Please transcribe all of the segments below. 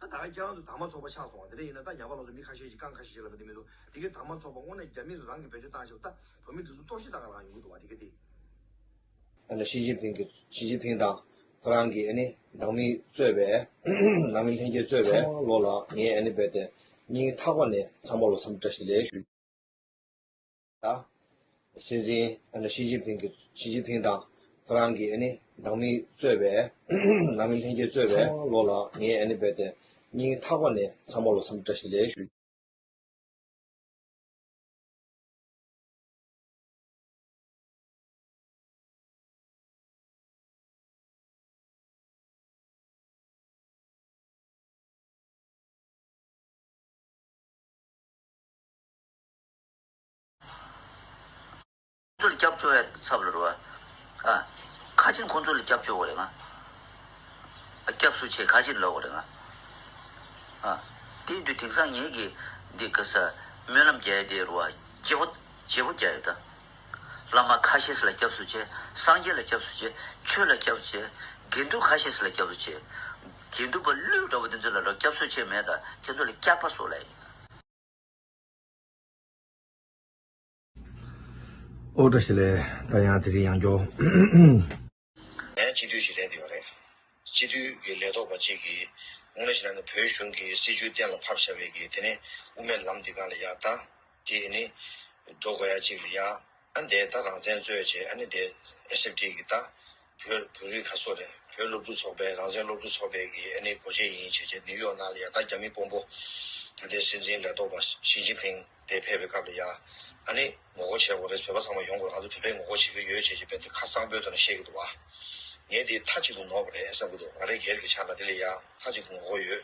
ད་ད་རྒྱང་དུ་དར་མ་ཚོགས་པ་ཆགས་སོང་བ་དེ་འདྲ་ཡིན་ན་ད་རྒྱ་བ་ལོགས་སུ་མི་ཁ་ཤས་ཤིག་རྐང་ཁ་ཤས་ཤིག་ལ་མི་དེ་མི་འདུག་དེ་གའི་དར་མ་ཚོགས་པ་སྔོན་ནས་རྒྱ་མི་རུ་རང་གིས་བེད་སྤྱོད་བཏང་ཤེས་པ་ད་བོད་མི་འདི་ཚོ་གཏོར་བཤིག་བཏང་ག་ལ་ཡོང་གི་འདུག་བ་དེ་ག་དེ། ཨ་ནི་ཞི་ཅིན་ཕིང་གི་ཞི་ཅིན་ཕིང་དང་ཁོ་རང་གི་ཨ་ནི་ནང་མི་གཙོས་པའི་ནང་མི་ལྷན་རྒྱས་གཙོས་པའི་ཚང་མ་ལོགས་ལ་ངས་ཨ་ནི་རྦད་དེ་སྙིང་ཐག་པ་ནས་ཚང་མ་ལོགས་འཚམས་འདྲ་ཞིག་ལས་ཞུ། དང། སྲིད་འཛིན་ཞི་ཅིན་ཕིང་གིས་ཞི་ཅིན་ཕིང་དང་ཁོ་རང་གི་ནང་མི་གཙོས་པའི་ནང་མི་ལྷན་རྒྱས་གཙོས་པའི་ཚང་མ་བློ་ལ་ངེས་ཨེ་ནི་བས་ཏེ་སྙིང་ཐག་པ་ནས་ཚང་མ་ལོ་སམ་བཀྲ་ཤིས་ལེ་ཞུ། ཚོ་ལ་སྐྱབས་བཅོལ་བའི་ཚབ་ལ་རོལ་བ། ཁ་ཆེར་ཁོང་ཚོ་ལ་སྐྱབས་བཅོལ་བ་རེད་ང། སྐྱབས་སུ་ཆེ་ཁ་ཆེར་ལོག་བ་རེད་ང། དེའི་དུས་དེང་སང་ངེད་ཀྱི་འདི་ཀ་ས་སྨོན་ལམ་རྒྱལ་དེའི་རུ་བ་བརྗེ་བོ་བརྗེ་བོ་རྒྱལ་ཡོད་ད། བླ་མ་ཁ་ཤེས་ལ་སྐྱབས་སུ་ཆེ་སངས་རྒྱས་ལ་སྐྱབས་སུ་ཆེ་ཆོས་ལ་སྐྱབས་སུ་ཆེ་དགེ་འདུན་ཁ་ཤེས་ལ་སྐྱབས་སུ་ཆེ། དགེ་འདུན་པ་ཀླུའི་འདྲ་བོ་དེ་ཚོ་ལ་རོ་སྐྱབས་སུ་ཆེ་མེད་ད་ཁྱེད་ཚོ་ལ་སྐྱག་པ་བཟོ་ལ་ཡིན། ཨོ་བཀྲ་ཤིས་ལེ། ད་ཡང་དེ་རིང་ཡང་འགྱོ། ད་ཡང་སྤྱི་འཐུས་ཞིག་ལེན་དུ་ཡོང་རེད། སྤྱི་འཐུས་ཀྱི་ལས་ཐོག་པ་གཅིག་གིས། སྔོན་ལས་བྱེད་ན་ནི་བོད་གཞུང་གི་སྲིད་བྱུས་གཏན་ལ་ཕབ་བྱ་བའི་གི་དེ་ནི་དབུ་མའི་ལམ་འདི་གང་ལ་ཡག་ད། དེ་ནི། འགྲོ་དགོས་ཡག་གཅིག་ལ་ཡག། ཨ་ནི་དེ་ད་རང་བཙན་རྩོད་བྱེད་ཨ་ནི་དེ SFD གི་ད་བོད་བོད་རིགས་ཁ་སོ་རེད་བོད་སློབ་ཕྲུག་ཚོགས་པའི་རང་བཙན་སློབ་ཕྲུག་ཚོགས་པའི་གི་ཨ་ནི་གོ་བྱེད་ཡིན་བྱེད་བྱེད་ནིའུ་ཡོག་ནང་ལ་ཡ་ད་རྒྱ་མི་དཔོན་པོ་ད་ལྟའི་སྲིད་འཛིན་ལས་ཐོག་པ་ཞི་ཅིན་ཕིང་དེ་ཕེབས་པའི་སྐབས་ལ་ཡ་ཨ་ནི་ངོ་རྒོ་བྱེད་དགོ་རེད་བོད་པ་ཚང་མ་ཡོང་དགོ་རེད་ང་ཚོ་བོད་པས་ངོ་རྒོ་བྱེད་ཀྱི་ཡོད་བྱེད་བྱེད་བན་དེ་ཁ་གསང་པོའི་དོ་ན་བཤད་ཀྱི་འདུག་བ་ངས་དེ་ཐ་གཅིག་ཏུ་ནོར་བ་རེད་བསམ་ཀྱི་འདུག་ང་རེ་སྒེར་གྱི་ཆ་ལ་དེ་ལ་ཡ་ཐ་གཅིག་ཏུ་ངོ་རྒོ་ཡོད་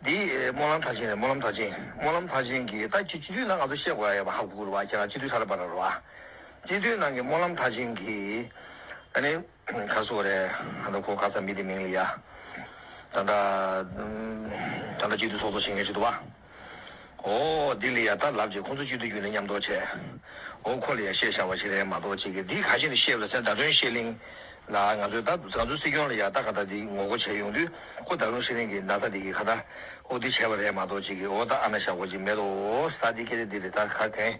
འདི་སྨོན་ལམ་གྲགས་ཅན་རེད་སྨོན་ལམ་གྲགས་ཅན། སྨོན་ལམ་གྲགས་ཅན་གྱིས་ད་ཁྱེད་སྤྱི་འཐུས་ནང་ང་ཚོ་བཤད་དགོས་ཨ་ཡོད་པ་ཧ་གོ་གོ་རུ་བ་ཁྱེད་རང་སྤྱི་འཐུས་ཧྲ་ར་པ་ར་རུ་བ། སྤྱི་འཐུས་ནང་གི་སྨོན་ལམ་གྲགས་ཅན་གྱིས། ཨ་ནི། ག་སུ་བ་རེད་ཨ་ད་ཁོ་ག་ས་མི་དེ་མིང་ལི་ཡ། ད་ད། ད་ད་སྤྱི་འཐུས་ཚོགས་གཙོ་བྱེད་མཁན་ཞིག་འདུག་བ། ཨོ། འདི་ལི་ཡ་ལྟར་ལབ་ཅིག་ཁོང་ཚོ་གཅིག་ཏུ་གྱུར་ནས་མཉམ་འདོགས་བྱས། ཨོ་ཁོ་ལི་ཡ་ཤེས་བྱ་བ་ཞིག་རེད་མ་གཏོགས་ཅི་གི་འདི་ག་ཞིག་ནས་ཤེས་ལ་ཚེ་ཟླ་སྒྲོན་ཤེས་གླིང། ལ་ང་ཚོའི་ད་ང་ཚོའི་སྲིད་སྐྱོང་ལི་ཡ་ད་ག་ད་འདི་ངོ་རྒོ་བྱས་ཡོང་དུས་ཁོ་ཟླ་སྒྲོན་ཤེས་གླིང་གི་ན་ས་འདི་གི་ག་ད་ཨོ་འདི་བྱས་པ་རེད་མ་གཏོགས་ཅི་གི་ཨོ་ད་ཨ་ན་ཞག་གོ་ཅིག་མེད་དོ་ཨོ་ས་འདི་སྐད་ལི་འདི་རེད་ད་ག་གན་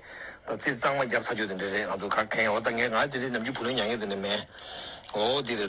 ད་ཚིག་གཙང་མ་རྒྱབ་ཚར་གྱོ་དེ་འདྲ་རེད་ང་ཚོ་ག་གན་ཨོ་ད་ངས་ང་འདི་རེད་ནམ་གྱི་བུ་ལོན་ཉག་ཉག་དེ་འདྲ་མེད་ཨོ་འདི་རེད།